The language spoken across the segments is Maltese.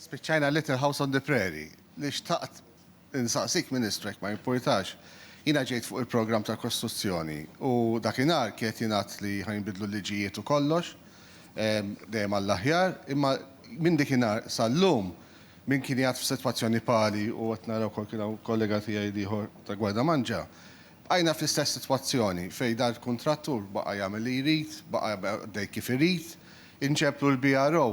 Spiċċajna Little House on the Prairie. Li xtaqt insaqsik Ministru jekk ma jimpurtax, jiena ġejt fuq il-programm tal-kostruzzjoni u dakinhar kien qed jingħad li ħa jinbidlu l-liġijiet u kollox, dejjem għall-aħjar, imma minn dikinhar sal-lum min kien jgħadd f'sitwazzjoni pali u qed nara wkoll kien hawn kollega tiegħi l-ieħor ta' Gwardamanġa, bqajna fl-istess sitwazzjoni fejn dal-kuntrattur baqa' jagħmel li jrid, baqa' għaddej kif irid, inġeblu l-BRO,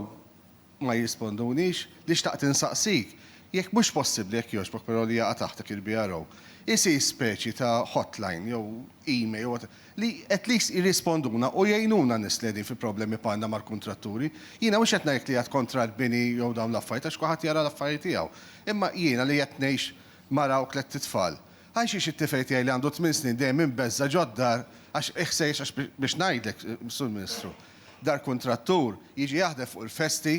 ma jirrispondunix, li xtaqt insaqsik jekk mhux possibbli jekk jogħġbok però li jaqa' taħt dak il-BRO isir speċi ta' hotline jew email jew whatever li at least jirrisponduna u jgħinuna n-nies li qegħdin fi problemi bħalna mal-kuntratturi. Jiena mhux qed ngħidlek li għad kontra l-bini jew dawn l-affarijiet għax kulħadd jara l-affarijiet tiegħu. Imma jiena li qed ngħix mara u tlett itfal, għal xiex it-tifel tiegħi li għandu tmien snin dejjem imbeżża' ġod-dar għax iħsejjes għax biex ngħidlek, Sur Ministru, dal-kuntrattur jiġi jaħdem fuq il-festi,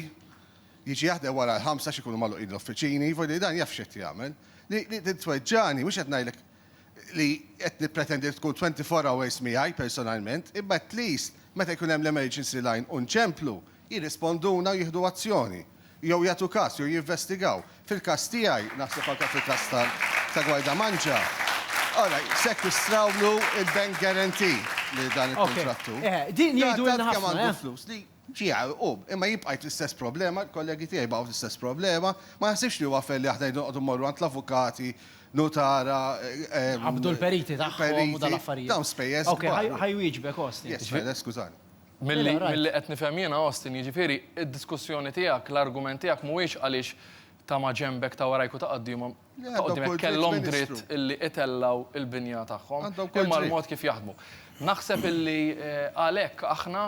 jiġi jaħdem wara l-ħamsa għax ikunu magħluqin l-uffiċini, vojt li dan jaf x'qed jagħmel. Li li titweġġagħni mhux qed ngħidlek li qed nippretendi li tkun 24 hours miegħi personalment, imma at least meta jkun hemm l-emergency line u nċemplu, jirrisponduna u jieħdu azzjoni. jew jagħtu każ, jew jinvestigaw. Fil-każ tiegħi, naħseb anke fil-każ ta' Guarda Mangia, ara, jsekkistrawlu l-bank guarantee lil dan il-kuntrattur. Okej, eh, din jgħidu lilna ħafna. Tant kemm għandu flus li ġie għarqub. Imma jien bqajt l-istess problema, il-kollegi tiegħi baqgħu l-istess problema. Ma naħsibx li huwa fair li aħna noqogħdu mmorru għand l-avukati, nutara, eh. Nqabbdu l-periti tagħhom u dal-affarijiet. Periti, dawn spejjeż kbar. Okej, ħa jwieġbek, Austin. Yes, Fede, skużani. Milli qed nifhem jien, Austin, jiġifieri d-diskussjoni tiegħek, l-argument tiegħek mhuwiex għaliex ta' maġenbek, ta' warajk u ta' quddiemhom kellhom dritt illi itellgħu l-binja tagħhom, imma l-mod kif jaħdmu. Naħseb illi għalhekk aħna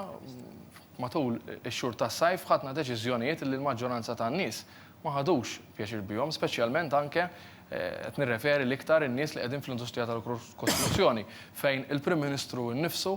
matul ix-xhur tas-sajf ħadna deċiżjonijiet illi l-maġġoranza tan-nies ma ħadux pjaċir bihom, speċjalment anke qed nirreferi l-iktar in-nies li qegħdin fl-industrija tal-kostruzzjoni fejn il-Prim Ministru nnifsu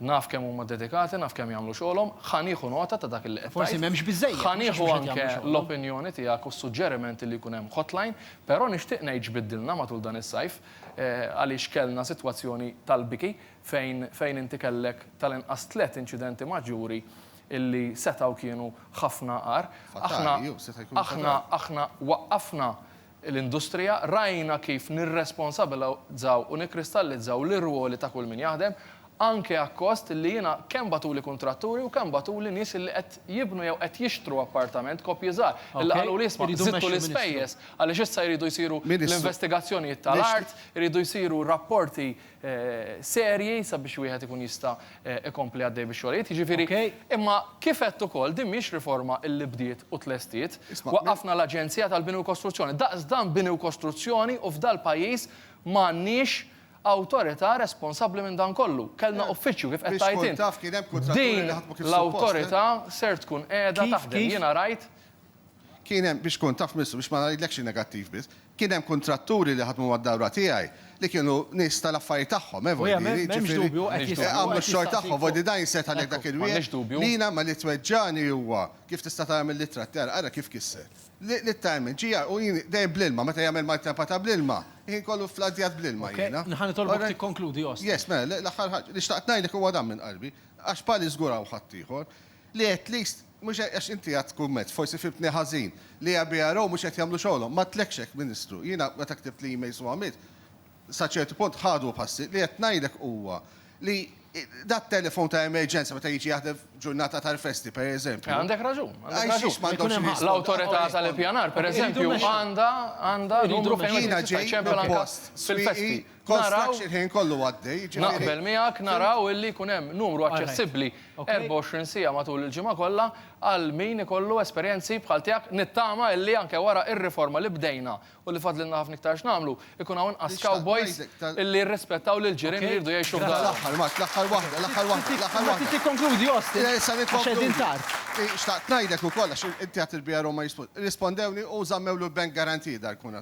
Naf kemm huma dedikati, naf kemm jagħmlu xogħolhom, ħa nieħu nota ta' dak li qed tgħid. Forsi m'hemmx biżżejjed. Ħa nieħu anke l-opinjoni tiegħek u s-suġġerimenti li jkun hemm hotline, però nixtieq ngħid x'biddilna matul dan is-sajf għaliex kellna sitwazzjoni tal-biki fejn fejn inti kellek tal-inqas tliet inċidenti maġġuri illi setgħu kienu ħafna agħar. Aħna aħna aħna waqqafna l-industrija, rajna kif nirresponsabilizzaw u nikkristallizzaw l-irwoli ta' kull min jaħdem, anke akkost li jiena kemm bagħtuli kuntratturi u kemm bagħtuli nies li qed jibnu jew qed jixtru appartament, koppji żgħar, li qaluli isma' żidtu l-ispejjeż għaliex issa jridu jsiru l-investigazzjonijiet tal-art, iridu jsiru rapporti serji sabiex wieħed ikun jista' jkompli għaddej bix-xogħlijiet. Jiġifieri, imma kif għedt ukoll din mhix riforma li bdiet u tlestiet. Waqqafna l-Aġenzija tal-Bini u Kostruzzjoni. Daqs dan bini u kostruzzjoni u f'dal-pajjiż ma għandniex awtorità responsabbli minn dan kollu. Kellna uffiċċju, kif qed tgħid int. Din l-awtorità ser tkun qiegħda taħdem. Jiena rajt Kien hemm, biex tkun taf Ministru, biex ma ngħidlekx in-negattiv biss, kien hemm kuntratturi li ħadmu mad-dawra tiegħi li kienu nies tal-affarijiet tagħhom, eh, Vojdi, li jiġifieri għamlu x-xogħol tagħhom, Vojdi, dan jistgħid għalih dak il-wieħed li jiena ma li tweġġagħni huwa, kif tista' tara mill-ittra tiegħi, ara kif kisser, li ta' hemm il-ġieħ u jien dejjem bl-ilma, meta jagħmel maltempa ta' bl-ilma, il-ħin kollu fladdjat bl-ilma jiena. Nħa nitolbok tikkonkludi, Osti. Yes, mela, l-aħħar ħaġa li xtaqt ngħidlek huwa dan minn qalbi, għax bħali żgur hawn ħaddieħor, Li at least, mhux hekk, għax inti għadt kumment, forsi fhimtni ħażin, li EBRO mhux qed jagħmlu xogħolhom. M'għadtlekx hekk, Ministru. Jiena meta ktibt l-emails u għamilt, sa ċertu punt ħadu passi. Li qed ngħidlek huwa li dat-telefon ta' emerġenza meta jiġi jaħdem f'ġurnata tal-festi, per eżempju. Għandek raġun, għandek raġun. Ma jkunx hemm ħafna. L-Awtorità tal-Ippjanar, per eżempju, għandha numru fejn wieħed jista' jċempel anke fil-festi. naraw, naqbel miegħek, naraw illi jkun hemm numru aċċessibbli 24 siegħa matul il-ġimgħa kollha għal min ikollu esperjenzi bħal tiegħek. Nittama illi anke wara r-riforma li bdejna u li fadlilna ħafna iktar x'nagħmlu, ikun hawn inqas cowboys illi jirrispettaw lill-ġirien li jridu jgħixu f'darhom.